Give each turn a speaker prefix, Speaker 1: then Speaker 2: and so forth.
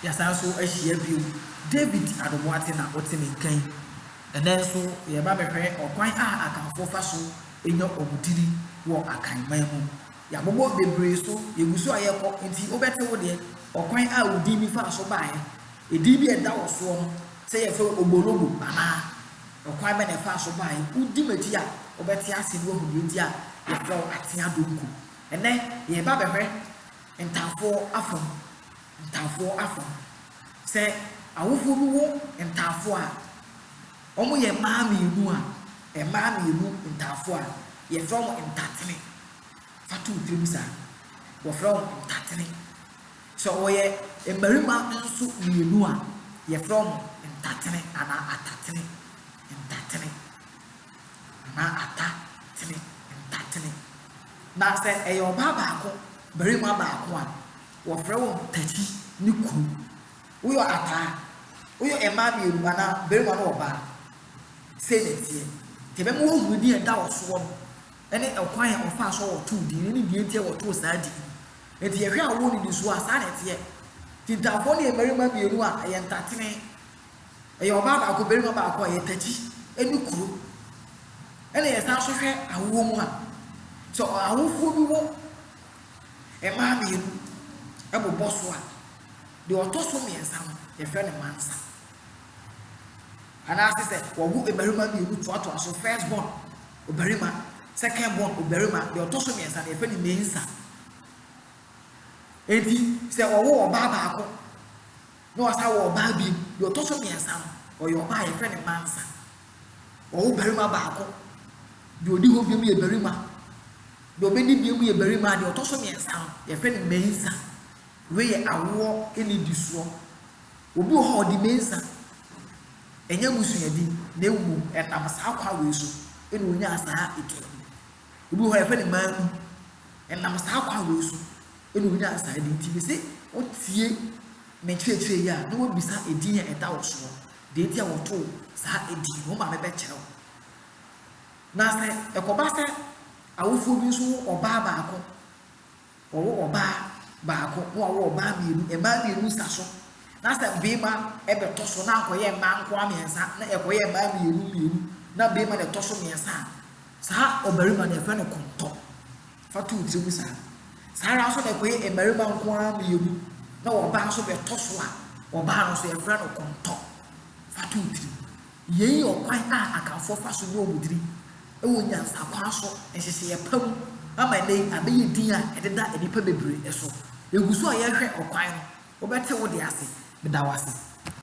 Speaker 1: Yɛasan nso ahyia bio. David Adoboate na ɔte me nka yi. Ɛnnɛ nso yɛreba abɛhwɛ ɔkwan a Akanfoɔ fa so nya wɔn tiri wɔ Akan man mu. Yɛabobɔ bebree so, yɛgu so a yɛrekɔ nti wobɛte wo deɛ, ɔkwan a wo din bi faa so baeɛ, edin bi a ɛda wo soɔ no, sɛ yɛfrɛ wo Ogbologo anaa, ɔkwan bɛn na ɛfaa so baeɛ. Wodi m'akyi a wobɛte ase na woahu deɛ nti a yɛfrɛ wo Atea Donku. Ɛnnɛ yɛreba abɛhwɛ Ntaafoɔ afam, ntaafoɔ afam. Sɛ awofoɔ bi wo ntaafoɔ a, wɔn yɛ mmaa mmienu a, mmaa mmienu ntaafoɔ a, yɛfrɛ wɔn ntatene. Fa to wo tirim saa. Wɔfrɛ wɔn ntatene. Sɛ wɔyɛ mmarima nso mmienu a, yɛfrɛ wɔn ntatene anaa atatene, ntatene. anaa ata tene, ntatene. Na sɛ ɛyɛ ɔbaa baako, barima baako a, wɔfrɛ wɔn Tati ne Kuru. Woyɔ ata a, woyɔ mmaa mmienu anaa barima ne ɔbaa. Sei na ɛteɛ. Nti ɛbɛma woahunu deɛ ɛda wo soɔ no ne ɛkwan a wɔfaa so a wɔtoo din no ne deɛ nti a wɔtoo saa din no. Nti yɛhwɛ awoɔ nnidisoɔ a, saa na ɛteɛ. Tintaafoɔ no yɛ mmarima mmienu a ɛyɛ ntatene. Ɛyɛ ɔbaa baako, barima baako a ɛyɛ Tati ne kuro. Ɛna yɛsan nso hwɛ awoɔ mu a, sɛ awofoɔ bi wɔ mmaa mmienu bobɔ so a, deɛ ɔtɔ so mmiɛnsa no, yɛfrɛ no mansa. Anaase sɛ wɔwo mmarima mmienu toatoa so, first born ɔbarima, second born ɔbarima, deɛ ɔtɔ so mmiɛnsa no, yɛfrɛ no mensa. Enti sɛ wɔwo ɔbaa baako Na ɔsan wɔ ɔbaa bio, deɛ ɔtɔ so mmiɛnsa no, ɔyɛ ɔbaa a yɛfrɛ no Mansa. Ɔwo barima baako, deɛ ɔdi hɔ biom yɛ barima, deɛ ɔbɛdi biom yɛ barima a deɛ ɔtɔ so mmiɛnsa no, yɛfrɛ no Mensa. Wei yɛ awoɔ nnidisoɔ. Obi wɔ hɔ a ɔde Mensa, ɛnyɛ abusuadin, na mmom ɛnam saa kwan wei so na ɔnyaa saa tumi no. Obi wɔ hɔ a yɛfrɛ no Manu. Ɛnam saa kwan wei so na ɔnyaa saa din. Nti mese wotie me nkyerɛkyerɛ yi a na woabisa edin a ɛda wo soɔ. Deɛ nti a wɔtoo saa edin no, wo maame bɛkyerɛ wo. Na sɛ ɛkɔba sɛ awofoɔ bi nso wo ɔbaa baako Wɔwo ɔbaa baako na wɔawo ɔbaa mmienu, mmaa mmienu sa so, na sɛ barima bɛtɔ so na akɔyɛ mmaa nkoa mmiɛnsa na ɛkɔyɛ mmaa mmienu mmienu na barima na ɛtɔ so mmiɛnsa a, saa ɔbarima no yɛfrɛ no kɔntɔ. Fa to wo tiri mu saa. Saa ara nso na ɛkɔyɛ mmarima nko ara mmienu na ɔbaa nso bɛtɔ so a, ɔbaa no nso yɛfrɛ no kɔntɔ. Fa to wo tiri mu. Yei yɛ ɔkwan a Akanfoɔ fa so yɛ wɔn diri wɔ nyansakwaa so nhyehyɛeɛ pa mu ama ɛnnɛ yi abɛyɛ din a ɛdeda nnipa bebree so. Yɛgu so a yɛrehwɛ ɔkwan no. Wobɛte wo deɛ ase. Meda wo ase.